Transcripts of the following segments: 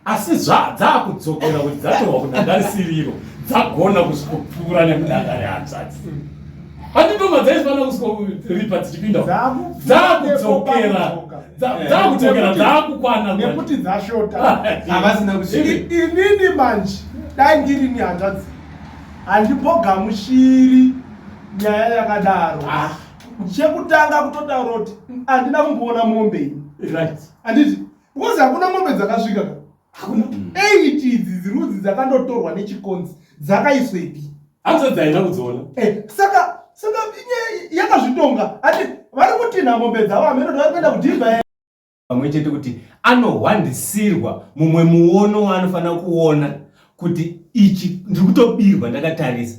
asi zvadzaakudzokera kuti dzatohwa kunhandare siriro dzagona kusvikopfuura nekunhandare hanzvadzi anditoma dzaisvana kusvikoripa dzichipinda dzaakudzokera dzaakudzokera dzaakukwana nekuti dzashota havasina kusvika inini manje dai ndiri ni hanzvadzi handipogamushiri nyaya yakadaro ah. chekutanga kutotaura kuti handina kumboona mombe ini handiti because hakuna mombe dzakasvika ka hakuna mm. eight idzi dzirudzi dzakandotorwa nechikonzi dzakaiswepi hanzi dzaina kudziona eh, saka saka yakazvitonga ati vari kutinha mombe dzavo hameno vari kuenda kudhibha pamwe chete kuti anohwandisirwa mumwe muono waanofanira kuona kuti ichi ndiri kutobirwa ndakatarisa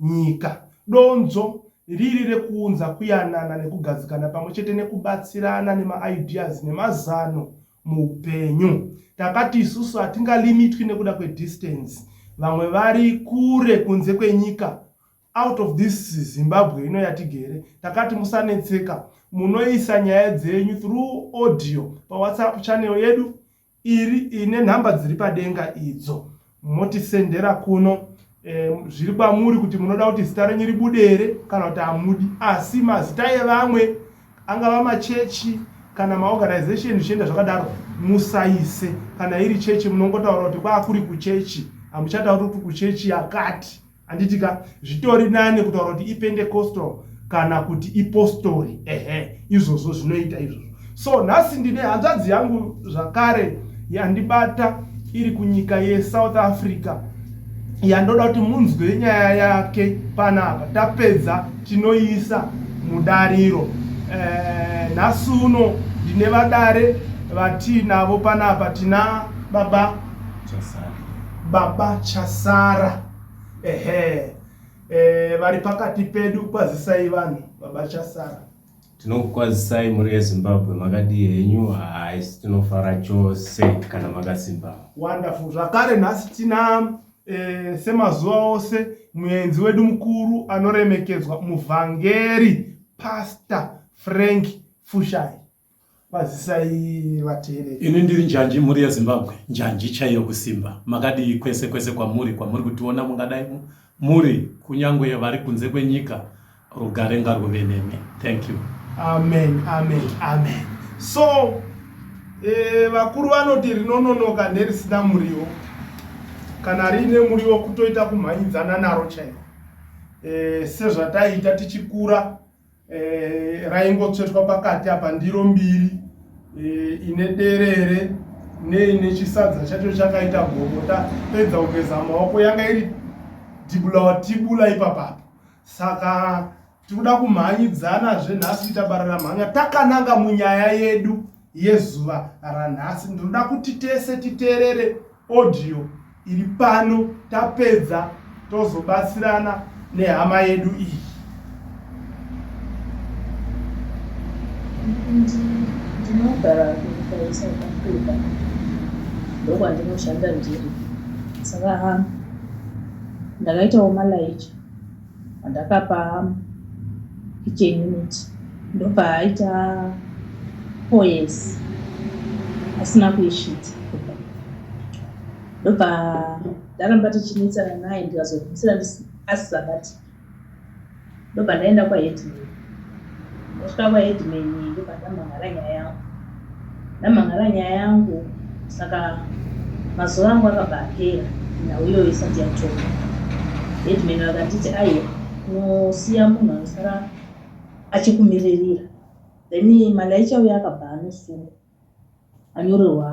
nyika. Donzvo riri rekuunza kuyanana nekugadzikana pamwe chete nekubatsirana nemaideas nemazano muupenyu. Takati isusu hatingalimitwi nekuda kwedistance, vamwe vari kure kunze kwenyika out of this Zimbabwe ino yatigere, takati musanetseka, munoisa nyaya dzenyu through audio paWhatsApp channel yedu iri ine nhamba dziri padenga idzo motisendera kuno e, zviri kwamuri kuti munoda kuti zita renyu ribude here kana kuti hamudi asi mazita evamwe angava machechi kana maorganization zvichienda zvakadaro musaise kana iri chechi munongotaura kuti kwakuri kuchechi hamuchatauri kuti kuchechi yakati handiti ka zvitori nane kutaura kuti ipendecostal kana kuti ipostori ehe izvozvo zvinoita izvozvo so nhasi ndine hanzvadzi yangu zvakare yandibata iri kunyika yesouth africa yandoda kuti munzwe nyaya yake panapa tapedza tinoiisa mudariro eh, nhasi e, uno ndine vadare vatiinavo panapa tina baba Jasari. baba chasara ehe eh, vari pakati pedu kwazisai vanhu baba chasara tinokukwazisai mhuri yezimbabwe makadii henyu haisi tinofara chose kana makasimba wonderful zvakare nhasi tina eh, semazuva ose muenzi wedu mukuru anoremekedzwa muvhangeri pastor frank fushai Kwazisai vateereri. Ini ndiri njanji mhuri yeZimbabwe, njanji chaiyo kusimba. Makadii kwese kwese kwamuri kwamuri kutiona mungadai muri kunyange vari kunze kwenyika rugare ngarwuve nemi. Thank you. Amen, amen, amen. So eh, vakuru vanoti rinononoka nerisina muriwo kana riine muriwo kutoita kumhanyidzana naro chaiko eh, sezvataiita tichikura eh, raingotsvetwa pakati apa ndiro mbiri eh, ine derere neine chisadza chacho chakaita gomota pedza kugeza maoko yanga iri tibula watibula ipapapa saka tikuda kumhanyidzana zvenhasi itabarira mhanya takananga munyaya yedu yezuva ranhasi ndinoda kuti tese titeerere audio iri pano tapedza tozobatsirana nehama yedu iyi ndinogara kunyika yesouth africa ndokwandinoshanda ndiri saka ha ndakaitawo malaija Pandakapa kitchen unit ndopaaita poes asina kuisvitsa kubva ndobva ndaramba tichinetsana naye ndikazomhetsera ndisina asi zvakati ndobva ndaenda kwaheadman. Ndasvika kwa headman ndobva ndamhan'ara nyaya yangu. Ndamhan'ara nyaya yangu saka mazuva angu akabva apera nhau iyoyo isati yatorwa. Headman vakanditi aiwa unosiya munhu anosara achikumiririra then Malayicha uya akabva anosungwa. Anyorerwa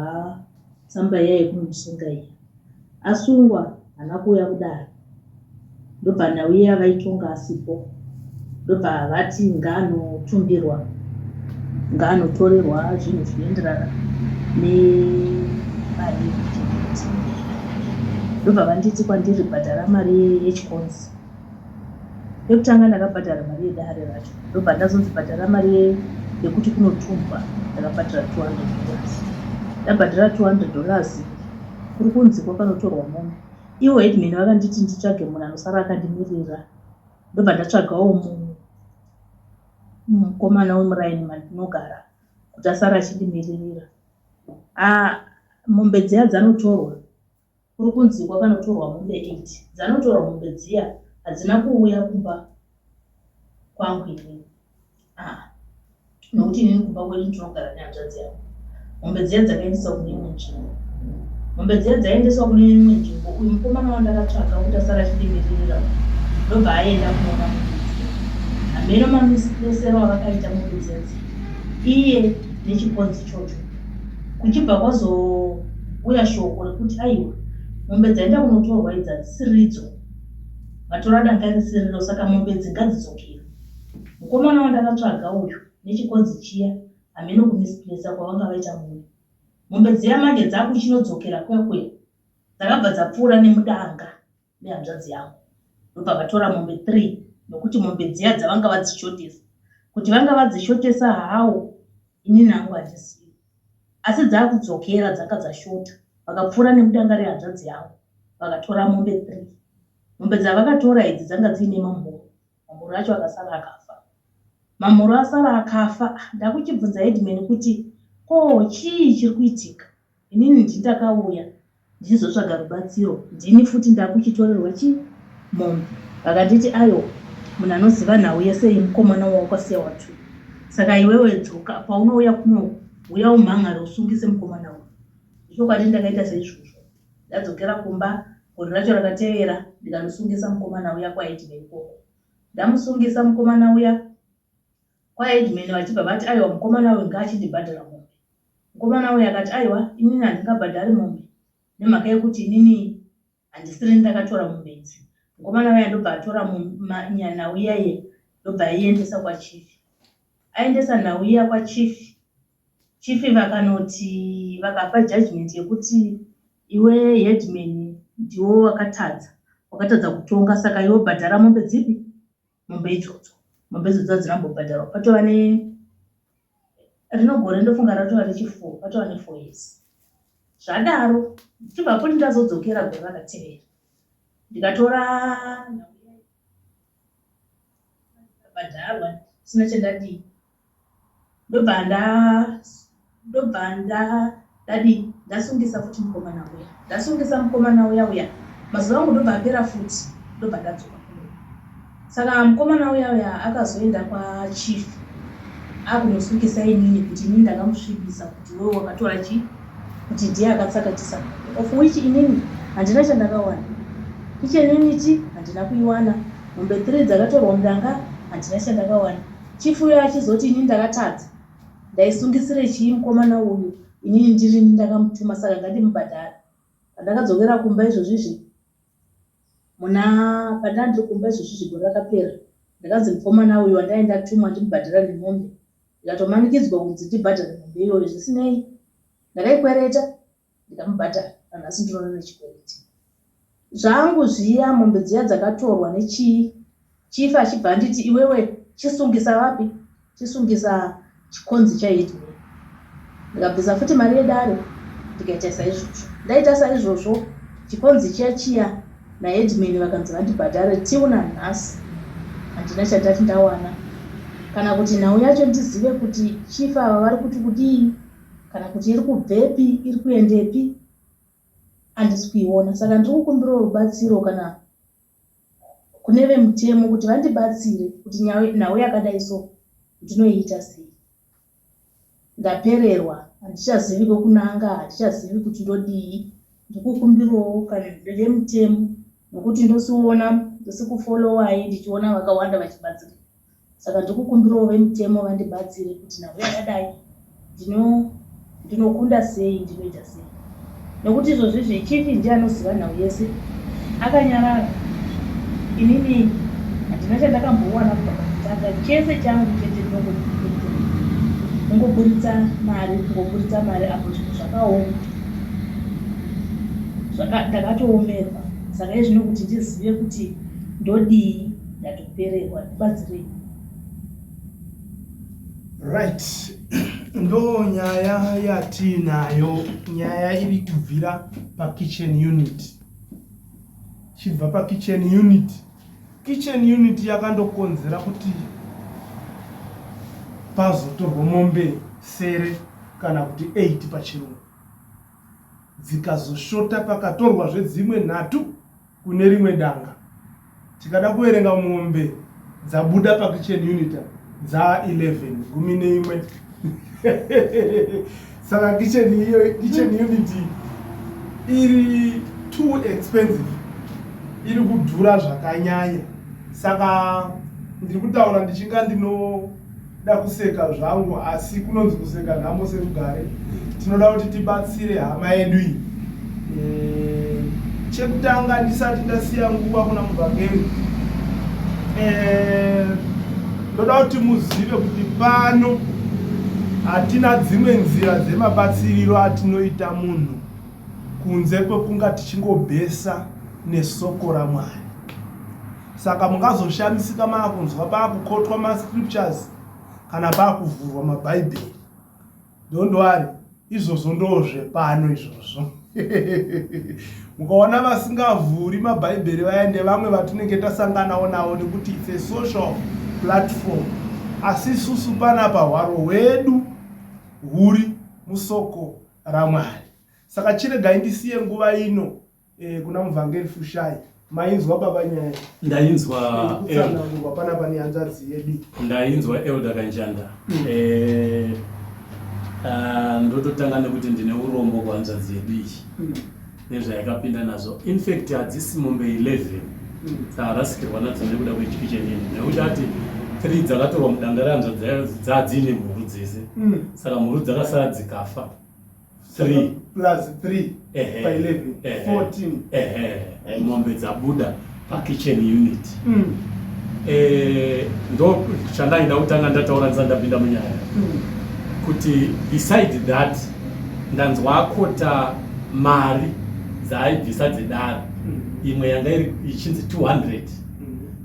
tsamba iya yekumusunga iya. Asungwa haana kuuya kudare ndobva nhau iya vaitonga asipo ndobva vati ngaanotundirwa ngaanotorerwa zvinhu zvinoenderana nemari yekuchengeti. Ndobva vanditi kwandiri bhadhara mari yechikonzi Yekutanga ndakabhadhara mari yedare racho ndobva ndazonzi bhadhara mari yekuti kunotumbwa ndakabhadhara 200 dollars. Ndabhadhara 200 dollars kuri kunzi kwakanotorwa mombe. Ivo headman vakanditi nditsvage munhu anosara akandimirira ndobva ndatsvagawo mukomana wemuraini mandinogara kuti asara achindimiririra. Ah, mombe dziya dzanotorwa kuri kunzi kwakanotorwa mombe 8 dzanotorwa mombe dziya hadzina kuuya kumba kwangu ini aa nokuti inini kumba kwedu ndinogara nehanzvadzi yangu mombe dziya dzakaendeswa kune imwe nzvimbo mombe dziya dzaiendeswa kune imwe nzvimbo uyu mukomana wandakatsvaga kuti asara achidimiririra ndobva aenda kunoona mombe dziya hameno mamisipesero avakaita mombe dziya dziya iye nechikonzi chocho kuchibva kwazouya shoko rekuti aiwa mombe dzaenda kunotorwa idzi hadzisiridzo matora danga risiriro saka mombe idzi ngadzidzokera mukomana wandakatsvaga uyu nechikonzi chiya hameno kumisplesa kwavanga vaita mune mombe dziya manje dzakuchinodzokera kwekwe dzakabva dzapfuura nemudanga nehanzvadzi yangu ndobva vatora mombe three nokuti mombe dziya dzavanga vadzishotesa kuti vanga vadzishotesa hawo ini nangu handisiyo asi dzakudzokera dzanga dzashota vakapfuura nemudanga rehanzvadzi yangu vakatora mombe three mombe dzavakatora idzi dzanga dziine mamhuru mamhuru acho akasara akafa mamhuru asara akafa ndakuchibvunza headman kuti ko chii chiri kuitika Inini ndini ndakauya ndichizotsvaga rubatsiro ndini futi ndakuchitorerwa chi mombe vakanditi ayo munhu anoziva nhau yese yemukomana wawakwasiya watu saka iwewe dzoka paunouya kuno huya umhan'are usungise mukomana uyu zvechokwadi ndakaita seizvozvo ndadzokera kumba gore racho rakatevera ndikanosungisa mukomana uya kwaHeadman ikoko ndamusungisa mukomana uya kwaHeadman vachibva vati aiwa mukomana uyu ngaachindibhadhara mombe Mukomana uya akati, Aiwa, inini handingabhadhari mombe, nemhaka yokuti inini handisirini ndakatora mombe idzi. Mukomana uya ndobva atora nyanhau iya iya ndobva aiendesa kwaChief. Aendesa nhau iya kwaChief, Chief vakanoti, vakapa judgement yekuti iwe headman ndiwe wakatadza, wakatadza kutonga saka iwe bhadhara mombe dzipi? mombe idzodzo mombe idzodzo hadzina kumbobhadharwa patova ne rino gore ndofunga ratova rechifour patova nefour years zvadaro ndichibva poti ndazodzokera gore rakatevera ndikatora bhadharwa sina chandadii Ndobva nda ndobva nda ndadii ndasungisa futi mukomana uya ndasungisa mukomana uya uya mazuva angu ndobva apera futi ndobva ndadzoka saka mukomana uya uya akazoenda kwachief akunosungisa inini kuti inini ndakamusvibisa kuti wewe wakatora chii kuti ndiye akatsakatisa of which inini handina chandakawana kichenini chi handina kuiwana mombe three dzakatorwa mudanga handina chandakawana Chief uyo achizoti ini ndakatadza ndaisungisire chii mukomana uyu inini ndirini ndakamutuma saka ngandimubhadhare pandakadzokera kumba izvozvizvi muna pandanga ndiri kumba izvozvizvi gore rakapera ndakanzi mukomana uyu wandai ndatumwa ndimubhadhara nemombe ndikatomanikidzwa kunzi ndibhadhare mombe iyoyo zvisinei ndakaikwereta ndikamubhadhara nanhasi ndinoona nechikwereti zvangu zviya mombe dziya dzakatorwa nechii chief achibva anditi iwewe chisungisa vapi chisungisa chikonzi chaitme ndikabvisa futi mari yedare ndikaita saizvozvo ndaita saizvozvo chikonzi chiya chiya naheadman vakanzi vandibhadhare tiu nanhasi handina chandati ndawana kana kuti nhau yacho ndizive kuti chief ava vari kuti kudii kana kuti iri kubvepi iri kuendepi handisi kuiona saka ndiri kukumbirawo rubatsiro kana kune vemutemo kuti vandibatsire kuti nhau yakadai so ndinoiita sei ndapererwa handichazivi kwekunanga handichazivi kuti ndodii ndikukumbirawo kana vemutemo nokuti ndosiona ndisikufolowai ndichiona vakawanda vachibatsira Saka ndikukumbirawo vemutemo vandibatsire kuti nhau yakadai ndino ndinokunda sei ndinoita sei nokuti izvozvizvi chief ndiye anoziva nhau yese akanyarara inini handina chandakambowana kubva pakutanga chese changu chete kungoburitsa mari kungoburitsa mari apo zvinhu zvakaoma ndakatoomerwa saka izvino kuti ndizive kuti ndodii kupererwa ndibatsirei right ndo nyaya yatiinayo nyaya iri kubvira pakitchen unit chibva pakitchen unit kitchen unit yakandokonzera kuti pazotorwa mombe sere kana kuti 8 pachirungu dzikazoshota pakatorwa zvedzimwe nhatu kune rimwe danga tikada kuverenga mombe dzabuda pakitchen unita dzaa 11 gumi neimwe saka kitchen iyo kitchen unit iri too expensive iri kudhura zvakanyanya saka ndiri kutaura ndichinga ndino Nda kuseka zvangu asi kunonzi kuseka nhamo serugare. Tinoda kuti tibatsire hama yedu iyi. Eh, chekutanga ndisati ndasiya nguva kuna muvhangeri. Eh, ndoda kuti muzive kuti pano hatina dzimwe nzira dzemabatsiriro atinoita munhu kunze kwekunga tichingobhesa nesoko ramwari Saka mungazoshamisika maakunzwa paakukotwa mascriptures kana paakuvhurwa mabhaibheri. Don't worry, izvozvo ndoozvepano izvozvo. Mukaona vasingavhuri mabhaibheri vaya ndevamwe vatinenge tasanganawo navo nekuti it's a social platform. Asi isusu panapa hwaro hwedu huri musoko raMwari. Saka chiregai ndisiye nguva ino. eh, kuna muvhangeri fushai mainzwa baba nyaya ndainzwa kutsanangurwa pana pane hanzvadzi yedu ndainzwa elder kanjanda mm. eh, ah, ndototanga nekuti ndine urombo kuhanzvadzi yedu iyi mm. nezvayakapinda nazvo infact hadzisi mombe 11 mm. dzaharasikirwa nadzo nekuda kwechiki chenini nekuti ati three dzakatorwa mudanga rehanzvadzi dzadzine mhuru dzese saka mhuru dzakasara dzikafa 3 plus 3 pa 11 14 ehe mombe dzabuda pa kitchen unit mm. eh ndo chandaida kutanga ndataura ndandapinda munyaya mm. kuti beside that ndanzwa akota mari dzaaibvisa dzedara mm. imwe yanga iri ichinzi 200 mm.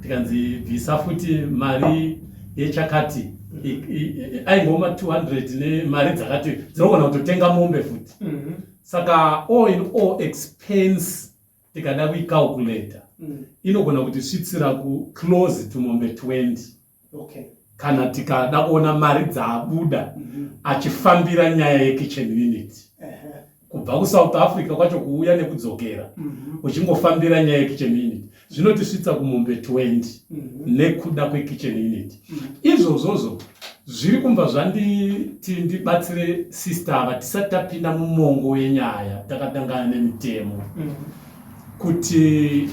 tikanzi bvisa futi mari yechakati aingoma 200 nemari dzakati dzinogona kutotenga mombe futi mhm. saka all in all expense tikada kuicalculator mm. inogona kuti svitsira ku close to mombe 20 okay. kana tikada kuona mari dzaabuda mm -hmm. achifambira nyaya yekitchen unit uh -huh. kubva kusouth africa kwacho kuuya nekudzokera mhm. uchingofambira nyaya yekitchen unit zvinotisvitsa kumombe 20 mhm. nekuda kwekitchen unit mhm. izvozvozvo zviri kumva zvanditi ndibatsire sister ava tisati tapinda mumongo wenyaya takatangana nemitemo kuti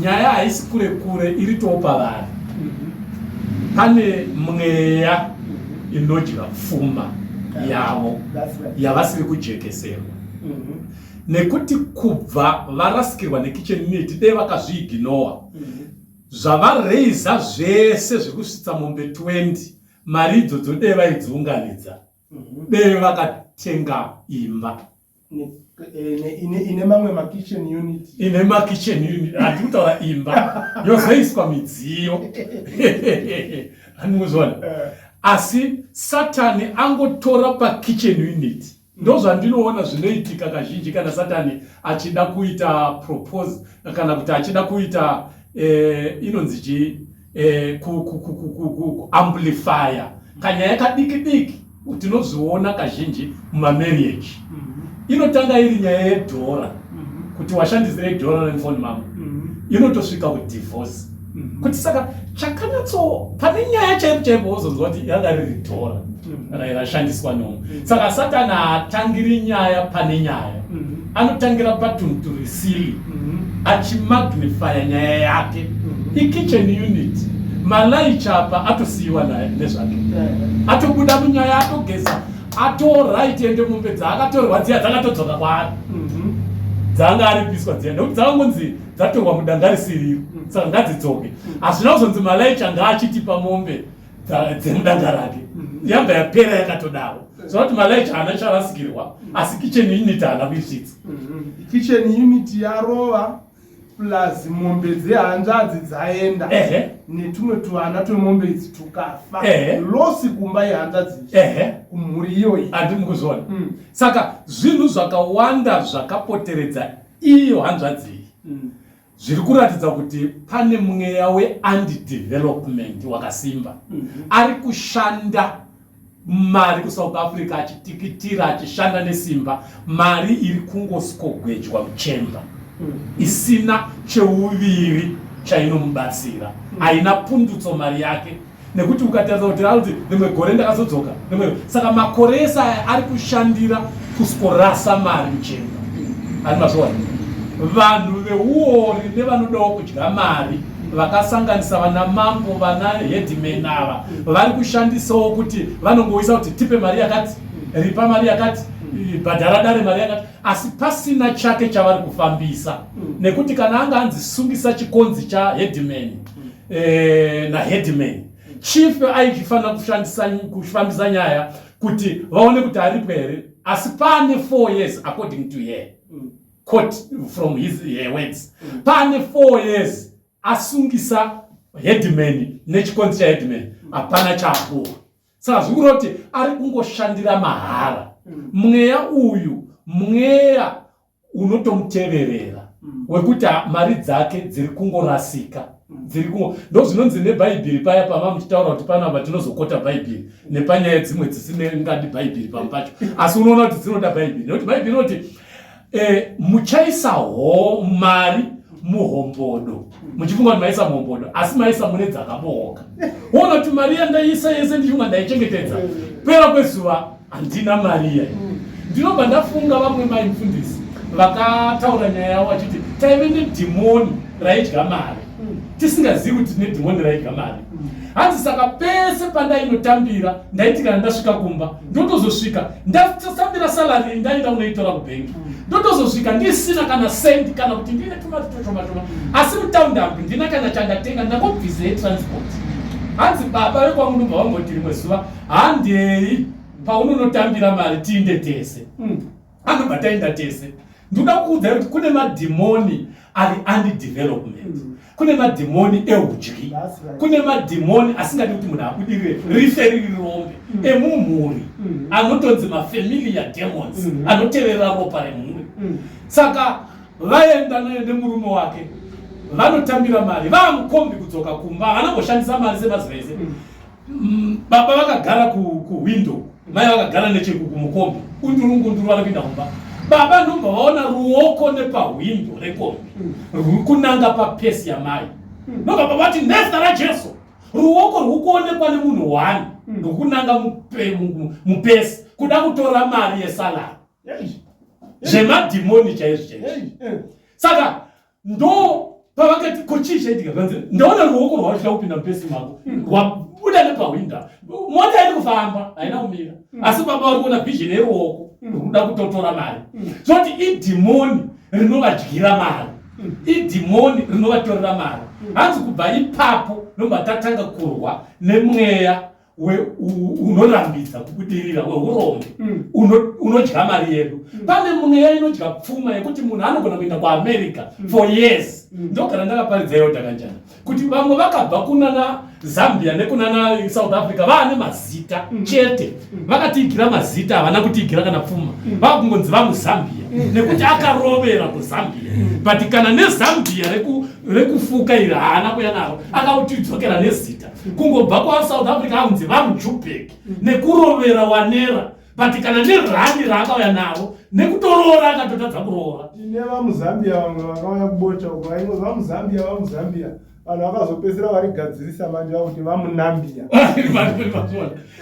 nyaya haisi kure kure iri topavari mm-hmm. pane mweya mm-hmm. inodya pfuma yavo yavasiri kujekeserwa mm-hmm. nekuti kubva varasikirwa nekitchen neti dei vakazviiginowa zvavareiza zvese zvekusvitsa mombe 20 mari idzo dzodei vaidziunganidza dei vakatenga imba ine mamwe makitchen unit ine makitchen unit hati kutaura imba yozoiswa midziyo animuzvona eh. asi satani angotora pakitchen unit ndozvandinoona zvinoitika kazhinji kana satani achida kuita propose kana kuti achida kuita eh, inonzi chii eh, kuamplifya kanyaya kadiki diki tinozviona kazhinji mumamarriage mm-hmm. inotanga iri nyaya yedhora mm-hmm. kuti washandisirei dhora remfoni mama mm-hmm. inotosvika kudivorce kuti saka chakanyatso pane nyaya chaipo chaipo wozonzwa kuti yanga riri dhora rairashandiswa nomu mm. saka satani haatangiri nyaya pane nyaya mm. anotangira patunturisili mm. achimagnifya nyaya yake ikitchen unit malaicha apa atosiyiwa naye nezvake atobuda munyaya atogeza atorit ende mombe dzaakatorwa dziya dzakatodzoka kwaari dzanga aripiswa dziya nekuti dzakangonzi dzatorwa mudanga risiriro saka ngadzidzoke hazvina kuzonzi malaicha ngaachitipa mombe dzemudanga rake mm-hmm. yabva yapera yakatodawo saka kuti malaicha haana charasikirwa mm-hmm. asi kitchen unit haana kuisvitsa mm-hmm. kitchen unit yarova plus mombe dzehanzvadzi dzaenda netumwe tuvana twemombe idzi tukafa losi kumba yehanzvadzi kumhuri iyoyi andimi kuzviona mm. saka zvinhu zvakawanda zvakapoteredza iyo hanzvadzi iyi mm. zviri kuratidza kuti pane mweya weandidevelopment wakasimba mm -hmm. ari kushanda mari kusouth africa achitikitira achishanda nesimba mari iri kungoskogwejwa muchemba mm -hmm. isina cheuviri chainomubatsira mm -hmm. haina pundutso mari yake nekuti ukatarisa kuti alti rimwe gore ndakazodzoka rimwe saka makore ese aya ari kushandira kusikorasa mari kuchena ari mazviwana vanhu veuori nevanodawo kudya mari vakasanganisa vana mambo vana headman ava vari kushandisawo kuti vanongoisa kuti tipe mari yakati ripa mari yakati bhadhara dare mari yakati asi pasina chake chavari kufambisa mm. nekuti kana anga anzi sungisa chikonzi chaheadman e, naheadman chief aichifanira kushandisa kufambisa nyaya kuti vaone kuti aripwe here asi pane four years according to her mm. quote from his her words mm. pane four years asungisa headman nechikonzi chaheadman mm. hapana chapuwa saka zvikureva kuti ari kungoshandira mahara mweya uyu mweya unotomuteverera mm. wekuti mari dzake dziri kungorasika mm. dziri kungo ndo zvinonzi nebhaibheri paya pava muchitaura kuti pano apa tinozokota bhaibheri nepanyaya dzimwe dzisine ngadi bhaibheri pamwe pacho asi unoona kuti dzinoda bhaibheri nekuti bhaibheri inoti eh, muchaisa ho mari muhombodo muchifunga kuti maisa muhombodo asi maisa mune dzakabooka wona kuti mari yandaisa yese ndichifunga ndaichengetedza pera kwezuva Handina mari iya. Mm. Ndinobva ndafunga vamwe mai mfundisi vakataura nyaya yavo vachiti taive nedhimoni raidya mari mm. tisingazivi kuti tine dhimoni raidya mari mm. hanzi saka pese pandainotambira ndaiti kana ndasvika kumba ndotozosvika ndasambira salari ndaenda unoitora kubhengi mm. ndotozosvika ndisina kana sendi kana kuti ndine tumati twashomashoma asi mutaundi ambi ndina kana chandatenga ndakobvize transport hanzi baba vekwangu ndobva vamboti rimwe zuva handei paunonotambira mari tiinde tese mm. anobva taenda tese ndoda kukuudzai kuti kune madhimoni ari andidevelopment mm. kune madhimoni eudyi right. kune madhimoni asingadi kuti munhu abudirire mm. rife riri rombe mm. emumhuri mm. anotonzi mafamilia demons mm. anoteverera ropa remhuri mm. saka vaenda naye nemurume wake vanotambira mari vaamukombi kudzoka kumba havana koshandisa mari semaziva ese mm. Mm, baba vakagara kuhwindo ku mai vakagara nechekumukombi kunduru ngunduru vari kuinda kumba baba ndomba vaona ruoko nepahwindo rekombi ruri kunanga papesi yamai hmm. ndoga baba vati nezita rajesu ruoko rwuri kuonekwa nemunhu wani hmm. rwuri kunanga mupesi kuda kutora mari yesalari zvemadhimoni chaizvo chaizvo hmm. saka ndo pavakati ko chii chaitika kanzi ndaona ruoko rwavo chida kupinda mupesi mako hmm. rwabuda nepahwinda mota iri kufamba haina kumira hmm. asi baba vari kuona vision yeruoko hmm. rwuda kutotora mari zoti idhimoni rinovadyira mari idhimoni rinovatorera mari hanzi kubva ipapo ndomatatanga kurwa nemweya unorambidza kubudirira weurombe mm. unodya mari yedu mm. pane mweya inodya pfuma yekuti munhu anogona kuenda kuamerica mm. for years ndogara ndakaparidza iyo dakanjana kuti vamwe vakabva kunana zambia nekunana south africa vaane mazita chete vakatiigira mazita havana kutiigira kana pfuma vakungonzi vamuzambia nekuti akarovera kuzambia but kana nezambia rekufuka iri haana kuya naro akautidzokera nezita kungobva kwasouth africa akunzi vamujubek mm. nekurovera wanera but kana nerani raakauya navo nekutoroora akatotadza kuroora tine vamuzambia vamwe vakauya kubota uko vaingo vamuzambia vamuzambia vanhu vakazopedzisira varigadzirisa manje vakuti vamunambia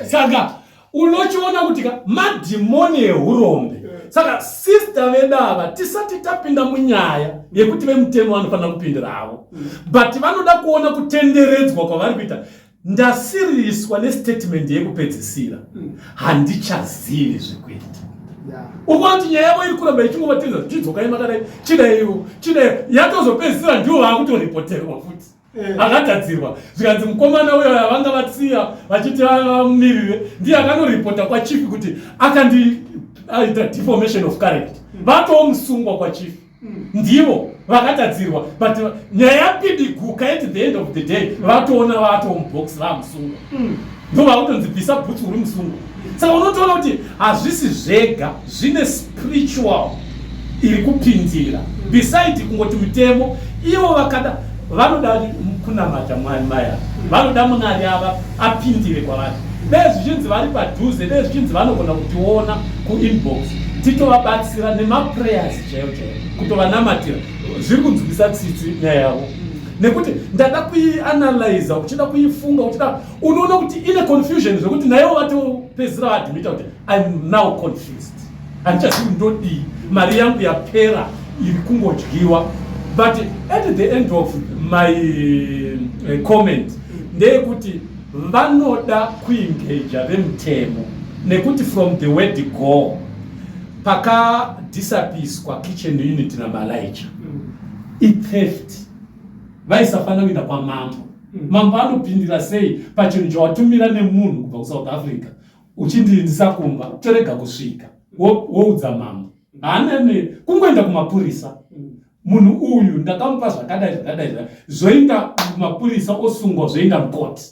saka unochiona kuti ka madhimoni ehurombe saka sista vedu ava tisati tapinda munyaya yekuti vemutemo vanofanira kupindira havo but vanoda kuona kutenderedzwa kwavari kuita ndasiriswa nestatement yekupedzisira handichazivi zvekuita ukuona kuti nyaya yavo iri kuramba ichingova tinza tichidzokai makadai chidaiwo chidai yatozopedzisira ndiwo vaakutoripoterwa futi Eh. akagadzirwa zvikanzi mukomana uyo yavanga vatsiya vachiti vamirire ndiye akanoripota kwachief kuti akandiita deformation of character hmm. vatowo musungwa kwachief hmm. ndivo vakatadzirwa but nyaya yapidiguka at the end of the day hmm. vatoona vatowo mubox vamusungwa ndovakutonzi bvisa bhutsu uri musungwa saka unotoona kuti hazvisi zvega zvine spiritual iri kupindira beside kungoti mutemo ivo vakada vanoda kunamata mwari maya vanoda munari ava apindire kwavari dai zvichinzi vari padhuze dai zvichinzi vanogona kutiona kuinbox titovabatsira nemaprayers chaiyo chaiyo kutovanamatira zviri kunzwisa tsitsi nyaya yavo nekuti ndada kuianalyza uchida kuifunga uchida unoona kuti ine confusion zvekuti nayewo vatopedzisira vaadmita kuti im now confused handichazivi ndodii mari yangu yapera iri kungodyiwa but at the end of my uh, comment ndeyekuti vanoda kuingeja vemutemo nekuti from the word go pakadhisapiswa kitchen unit namalaija mm. itheft vaisafanira kuinda kwamambo mambo anopindira sei pachinhu chawatumira nemunhu kubva kusouth africa uchindiindisa kumba torega kusvika woudza mambo haanene kungoenda kumapurisa munhu uyu ndakamupa zvakadai zvakadai zvoinda kumapurisa osungwa zvoinda mukoti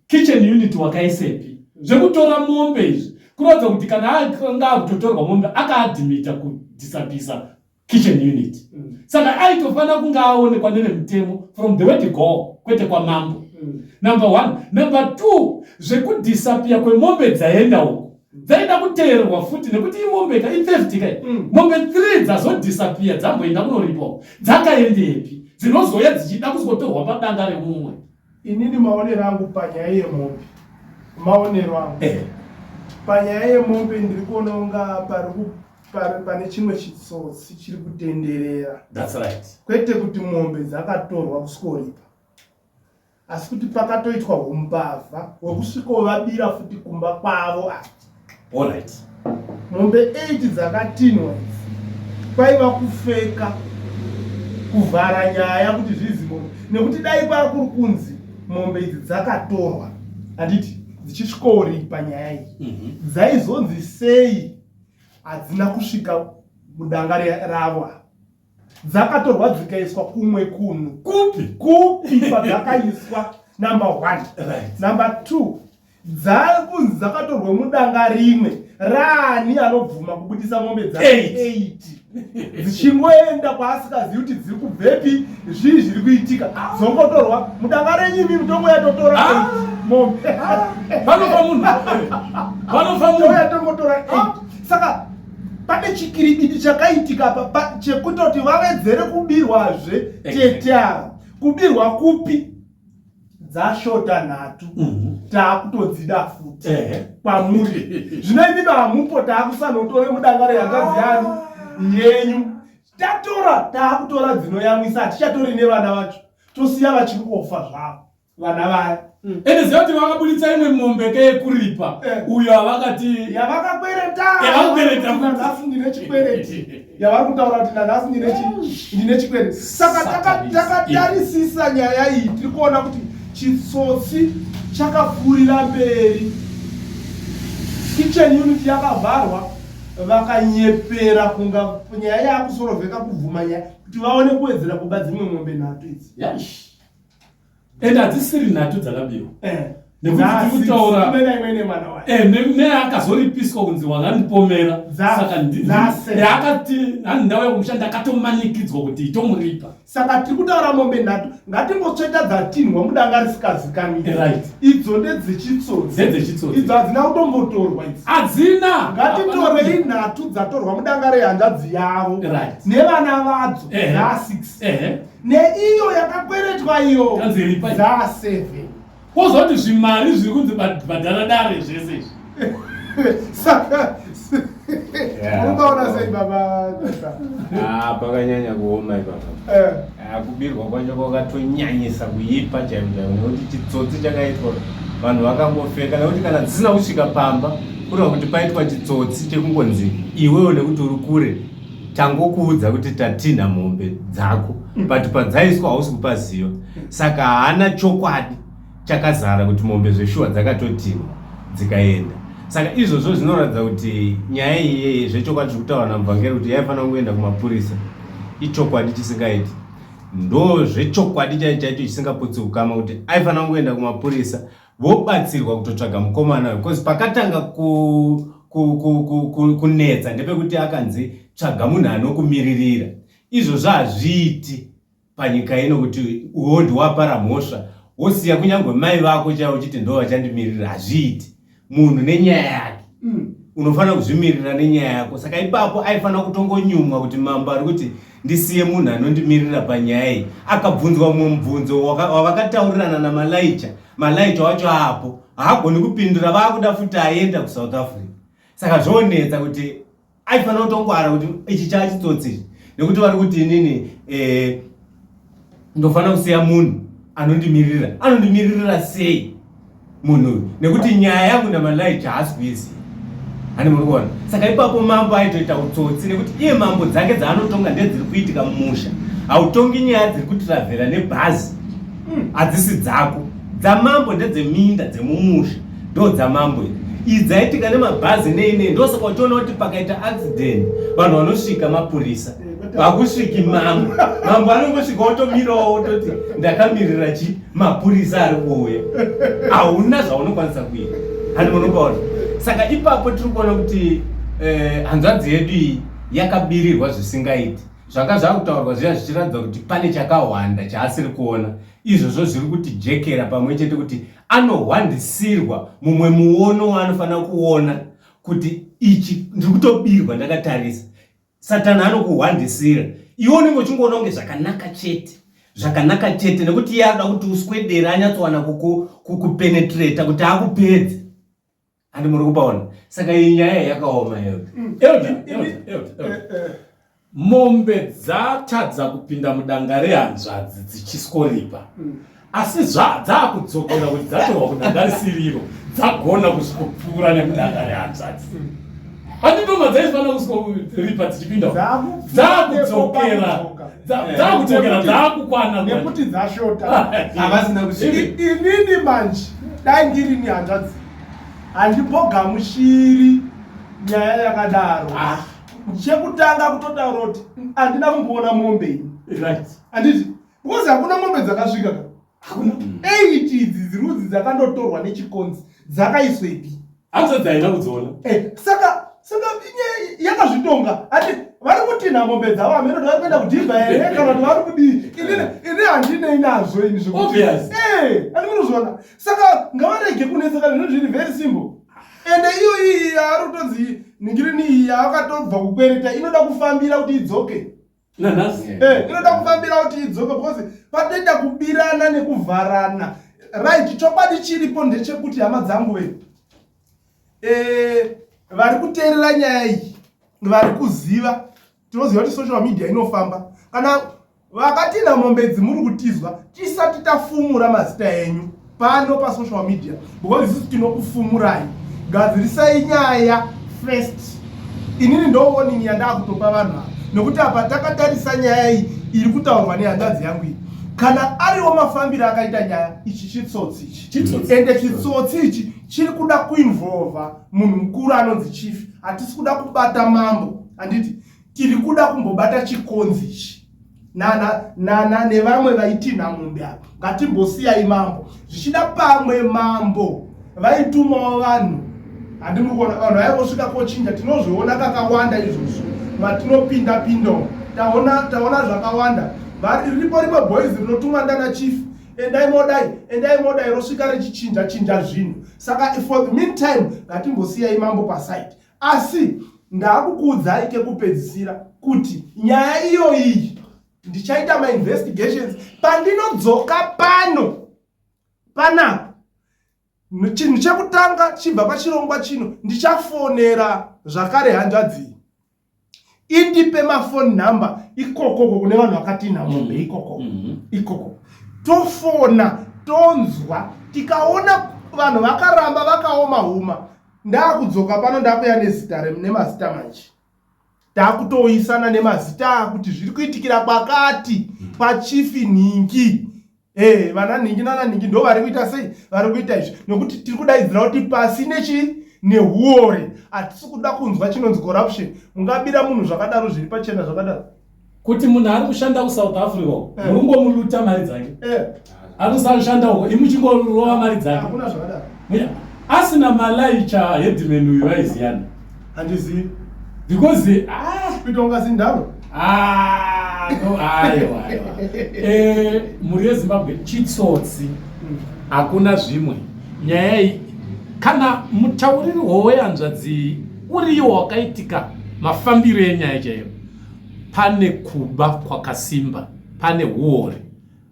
kitchen unit wakaisepi zvekutora mombe izvi kuratidza kuti kana anga akutotorwa mombe akaadimita kudisabisa kitchen unit mm. saka aitofanira kunge aonekwa nevemitemo from the way to go kwete kwamambo mm. number one number two zvekudhisapiya kwemombe dzaenda uko dzaida kuteererwa futi nekuti imombe ka itheft kai mm. mombe three dzazodhisapiya dzamboenda kunoripo dzakaendepi dzinozouya dzichida kuzotorwa padanga remumwe Inini maonero angu panyaya yemombe, maonero angu eh. panyaya yemombe ndiri kuona unga pane chimwe chitsotsi chiri kutenderera. That's right. Kwete kuti mombe dzakatorwa kusikoripa, asi kuti pakatoitwa umbavha hwekusvikovabira futi kumba kwavo ati Alright. Mombe 8 dzakatinhwa idzi kwaiva kufeka kuvhara nyaya kuti zvizivo nekuti dai kwakuri kunzi mombe idzi dzakatorwa handiti dzichisvikouri panyaya iyi mhm. dzaizonzi sei hadzina kusvika mudanga ravo dzakatorwa dzikaiswa kumwe kunhu kupi kupi kwadzakaiswa number one right. number two dzakunzi dzakatorwa mudanga rimwe raani anobvuma kubudisa mombe dza 8 dzichingoenda kwaasikazivi kuti dziri kubvepi zvii zviri kuitika ah. dzongotorwa mudanga renyu imi mutongo yatotora ah. mombe ah. vanofa munhu vanofa munhu yatongotora saka pane chikiribidi chakaitika apa chekutoti vavedzere kubirwazve tete ava kubirwa kupi dzashota nhatu mhm. taakutodzida futi kwamuri zvino imi vamupo taakusanotore mudangare yangazi yani yenyu tatora taakutora dzinoyamwisa hatichatori nevana vacho tosiya vachiri kofa zvavo vana vaya mm. ende ziva kuti vakabuditsa imwe mombe ke yekuripa eh. uyo avakati yavakakwereta nanhasi ndine chikwereti yavari kutaura kuti nanhasi ndine chikwereti saka takatarisisa nyaya iyi tiri kuona kuti chitsotsi chakafurira mberi kitchen unit yakavharwa vakanyepera kunga nyaya yaakusorovheka kubvuma nyaya kuti vaone kuwedzera kuba dzimwe mombe nhatu idzi and hadzisiri nhatu dzakabiwa eh. nekutikutauraneakazoripiswa eh, kunzi wangandipomera akatii ndauya kumusha ndakatomanikidzwa kuti itomuripa saka tiri kutaura mombe nhatu ngatingotsveta dzatinhwa mudanga risikazikamii eh, idzo ndedzechitsotsiidzo hadzina kutombotorwa idzi hadzina ngatitorei nhatu dzatorwa mudanga rehanzvadzi yavo nevana vadzo dza6 neiyo yakakweretwa iyo dzaseve kwozoti zvimari zviri kunzi bhadhara dare zvese izvi saka ukaona sei baba ah, pakanyanya kuoma ipapa eh. ah, kubirwa kwacho kwakatonyanyisa kuipa chaimo chaimo nekuti chitsotsi chakaitwa vanhu vakangofeka nekuti kana dzisina kusvika pamba kureva kuti paitwa chitsotsi chekungonzi iwewo nekuti uri kure tangokuudza kuti tatinha mombe dzako mm. but padzaiswa hausi kupa ziva saka haana chokwadi chakazara kuti mombe zveshuwa dzakatotinha dzikaenda saka izvozvo zvinoratidza kuti nyaya iyeye zvechokwadi zviri kutaura namuvhangeri kuti yaifanira kungoenda kumapurisa ichokwadi chisingaiti ndo zvechokwadi chaicho chaicho chisingaputsi ukama kuti aifanira kungoenda kumapurisa vobatsirwa kutotsvaga mukomana because pakatanga ku, ku, ku, ku, ku, kunetsa ndepekuti akanzi tsvaga munhu anokumiririra izvozvo hazviiti panyika ino kuti uhondi wapara mhosva wosiya kunyange mai vako chaivo chiti ndo vachandimirira hazviiti munhu nenyaya yake mm. unofanira kuzvimirira nenyaya yako saka ipapo aifanira kutongonyumwa kuti mambo ari kuti ndisiye munhu anondimirira panyaya iyi akabvunzwa mumwe mubvunzo wavakataurirana namalaicha malaicha wacho aapo haagoni kupindura vaakuda futi aenda kusouth africa saka zvonetsa kuti aifanira kutongwara kuti ichi chaachitsotsi nekuti vari kuti inini eh, ndofanira kusiya munhu anondimirira anondimirira sei munhu uyu nekuti nyaya yangu namalai chaasi kuiziva hani muri kuona saka ipapo mambo aitoita utsotsi nekuti iye mambo dzake dzaanotonga ndedziri kuitika mumusha hautongi nyaya dziri kutiravhera nebhazi hmm. hadzisi dzako dzamambo ndedzeminda dzemumusha ndo dzamambo iri iyi dzaitika nemabhazi nei nei ndosaka uchiona kuti pakaita accident vanhu vanosvika mapurisa vakusviki mambo mambo anongosvika otomirawo ototi ndakamirira chi mapurisa ari kuuya hauna zvaunokwanisa kuita hanzi unopaona saka ipapo tiri kuona kuti eh, hanzvadzi yedu iyi yakabirirwa zvisingaiti zvanga zvakutaurwa zviya zvichiratidza kuti pane chakahwanda chaasiri kuona izvozvo zviri kuti jekera pamwe chete kuti anohwandisirwa mumwe muono waanofanira kuona kuti ichi ndiri kutobirwa ndakatarisa satani anokuhwandisira iwe unenge uchingoona kunge zvakanaka chete zvakanaka chete nekuti iye anoda kuti uswedere anyatsowana kukupenetrata kuti akupedze handi muri kubaona saka iyi nyaya yakaoma yoda mm. mombe dzatadza kupinda mudanga rehanzvadzi dzichiskoripa mm. asi zvadzaakudzokera kuti dzatorwa kudanga risiriro dzagona kusvikopfuura nekudanga rehanzvadzi handitoma dzaifana kusvikoripa dzichipinda dzaakudzokera dzaakudzokera dzaakukwana nekuti dzashota havasina kuinini manje dai ndiri ni hanzvadzi handimbogamushiri nyaya yakadaro ah. chekutanga kutotaura kuti handina kumboona mombe ini anditi Because hakuna mombe dzakasvika ka. Hakuna. Mm. Eight idzi dzirudzi dzakandotorwa nechikonzi dzakaiswepi. Hanzi dzaina kudziona. Eh, saka saka inye yakazvitonga. Ati vari kutinha mombe dzavo ameno vari kuenda kudhibha here eh, kana kuti vari kudii. Ini eh. ini handinei nazvo ini zvekuti. Obvious. Eh, ani munozviona. Saka ngavarege kunetsa kana zvinhu zviri very simple. Ende iyo iyi yaari kutonzi ningirini iyi yaakatobva kukwereta inoda kufambira kuti idzoke. Okay. nanhasi eh, inoda kufambira kuti idzoke because patoita kubirana nekuvharana right chokwadi chiripo ndechekuti hama dzangu ve eh, vari kuteerera nyaya iyi vari kuziva tinoziva kuti social media inofamba kana vakatinha mombe dzimuri kutizwa tisati tafumura mazita enyu pano pasocial media because isusu tinokufumurai gadzirisai nyaya first inini ndooning yandakutopa vanhu ava nekuti apa takatarisa nyaya iyi iri kutaurwa nehanzvadzi yangu iyi kana ariwo mafambiro akaita nyaya ichi chitsotsi ichi ende chitsotsi ichi chiri kuda kuinvolva munhu mukuru anonzi chief hatisi kuda kubata mambo handiti tiri kuda kumbobata chikonzi ichi nana nana nevamwe vaitinha mombe ava ngatimbosiyai mambo zvichida pamwe mambo vaitumawo vanhu handimuri kuona vanhu vaivosvika kochinja tinozviona kakawanda izvozvo matinopinda pinda taona taona zvakawanda riripo rimwe boys rinotumwa ndana chief endai modai endai modai rosvika richichinja chinja zvinhu saka for the meantime ngatimbosiyai mambo paside Asi ndakukuudzai kekupedzisira kuti nyaya iyoyi ndichaita mainvestigations pandinodzoka pano panapa chinhu chekutanga chibva pachirongwa chino ndichafonera zvakare hanzvadzii indipe mafoni number ikokoko kune vanhu vakatinha mombe mm-hmm. ikoko mm-hmm. ikoko tofona tonzwa tikaona vanhu vakaramba vakaoma huma ndakudzoka pano ndakuya nezita nemazita manje takutoisana nemazita kuti zviri kuitikira kwakati pachifi nhingi Hey, eh, vana nhingi nana nhingi ndo vari kuita sei vari kuita izvi nokuti tiri kudaidzira kuti pasi nechii nehuori hatisi kuda kunzwa chinonzi corruption mungabira munhu zvakadaro zviri pachena zvakadaro kuti munhu ari kushanda kusouth africa eh. muri kungomuluta mari dzake eh. ari kusashanda uko imuchingorova mari dzake asina malaicha headman uyu vaiziyana handizivi because ah, kuita kunga zindaro ah, no aiwa aiwa eh, mhuri yezimbabwe chitsotsi hmm. hakuna zvimwe nyaya iyi kana mutauriri woweyanzvadzi uriyo wakaitika mafambiro enyaya chaiyo pane kuba kwakasimba pane huori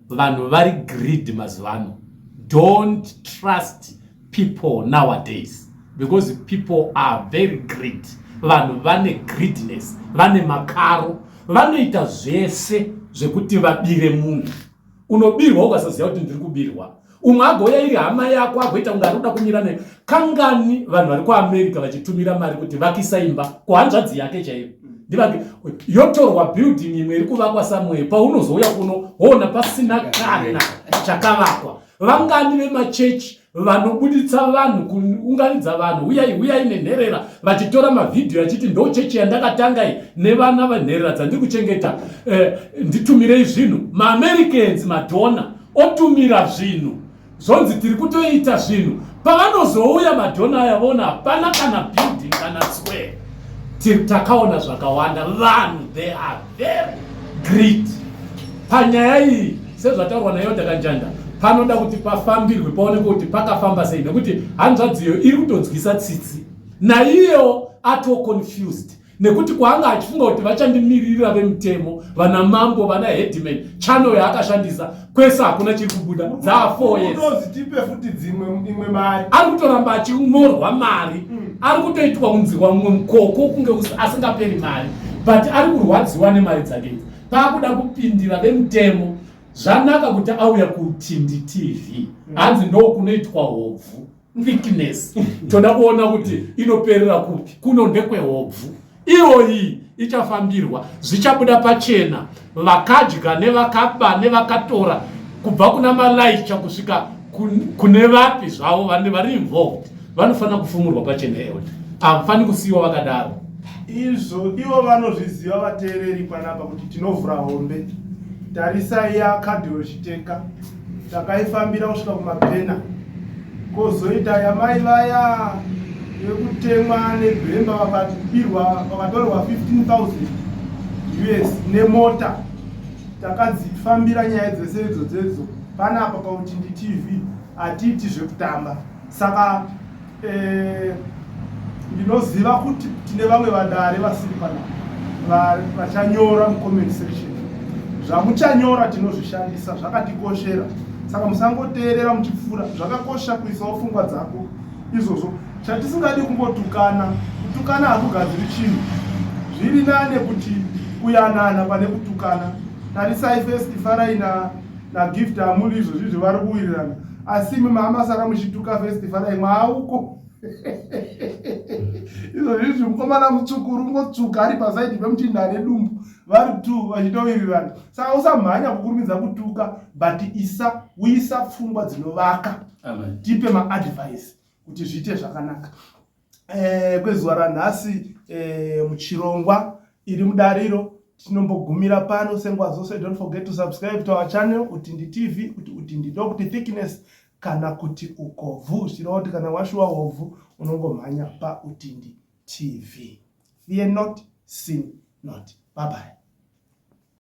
vanhu vari greed mazuvano don't trust people nowadays because people are very greed vanhu vane greedness vane makaro vanoita zvese zvekuti vabire munhu unobirwa ukasaziva kuti ndiri kubirwa umwe agouya iri hama yako agoita kunge ari kuda kumira nayo kangani vanhu vari kuamerica vachitumira mari kuti vakisa imba kuhanzvadzi yake chaiyo ndivake yotorwa building imwe iri kuvakwa samwee paunozouya kuno woona pasina kana chakavakwa vangani vemachechi vanobuditsa vanhu kuunganidza vanhu uyai uyai nenherera vachitora mavhidhiyo achiti ndo chechi yandakatanga iyi nevana venherera dzandiri kuchengeta eh, nditumirei zvinhu maamericanzi madhona otumira zvinhu zvonzi tiri kutoita zvinhu pavanozouya madhona aya vona hapana kana building kana square tiri takaona zvakawanda vanhu they are very great panyaya iyi sezvataurwa nayo takanjanda panoda kuti pafambirwe paoneke kuti pakafamba sei nekuti hanzvadziyo iri kutonzwisa tsitsi naiyewo atoconfused nekuti kwaanga achifunga kuti vachandimiririra vemutemo vana mambo vana headman channel yaakashandisa kwese hakuna chiri kubuda dzaa four years unodzitipe futi dzimwe imwe mari ari kutoramba achimorwa mari mm. ari kutoitwa kunzirwa mumwe mukoko kunge asingaperi mari but ari kurwadziwa nemari dzake idzi paakuda kupindira vemutemo zvanaka kuti auya kutindi tv mm. hanzi ndokunoitwa hobvu weakness toda kuona kuti inoperera kupi kuno ndekwehobvu iyoyi ichafambirwa zvichabuda pachena vakadya nevakaba nevakatora kubva kuna malaicha kusvika kune vapi zvavo vanhu vari involved vanofanira kufumurwa pachena eod hamufani kusiyiwa vakadaro izvo ivo vanozviziva vateereri panapa kuti tinovhura hombe tarisai yakadhiro chiteka takaifambira kusvika kumapena kozoita yamai vaya vekutemwa nebhemba vakabirwa vakatorerwa 15000 us nemota takadzifambira nyaya dzese idzo dzedzo panapa pautindi tv hatiiti zvekutamba saka Eh, ndinoziva kuti tine vamwe vadare vasiri pana vachanyora mucomment section zvamuchanyora tinozvishandisa zvakatikoshera saka musangoteerera muchipfuura zvakakosha kuisawo pfungwa dzako izvozvo chatisingadi kungotukana kutukana hakugadziri chinhu zviri nane kuti kuyanana pane kutukana tarisai festi farai nagift amuli izvozvi zvevari kuwirirana asi imi maamasara muchituka festivara imwe auko izvo zvizvi mukomana mutsvuku rungotsuka ari pasaidi pemuchinda ane dumbu vari t vachitowirirana saka usamhanya kukurumidza kutuka but isa uisa pfungwa dzinovaka tipe maadvice kuti zviite zvakanaka eh, kwezuva ranhasi eh, muchirongwa iri mudariro tinombogumira pano senguva dzose don't forget to subscribe to our channel kuti ndi tv kuti kuti ndi dog kuti thickness kana kuti ukovhu zvichireva kuti kana washuwa hovhu unongomhanya pautindi tv fear not sin not bye bye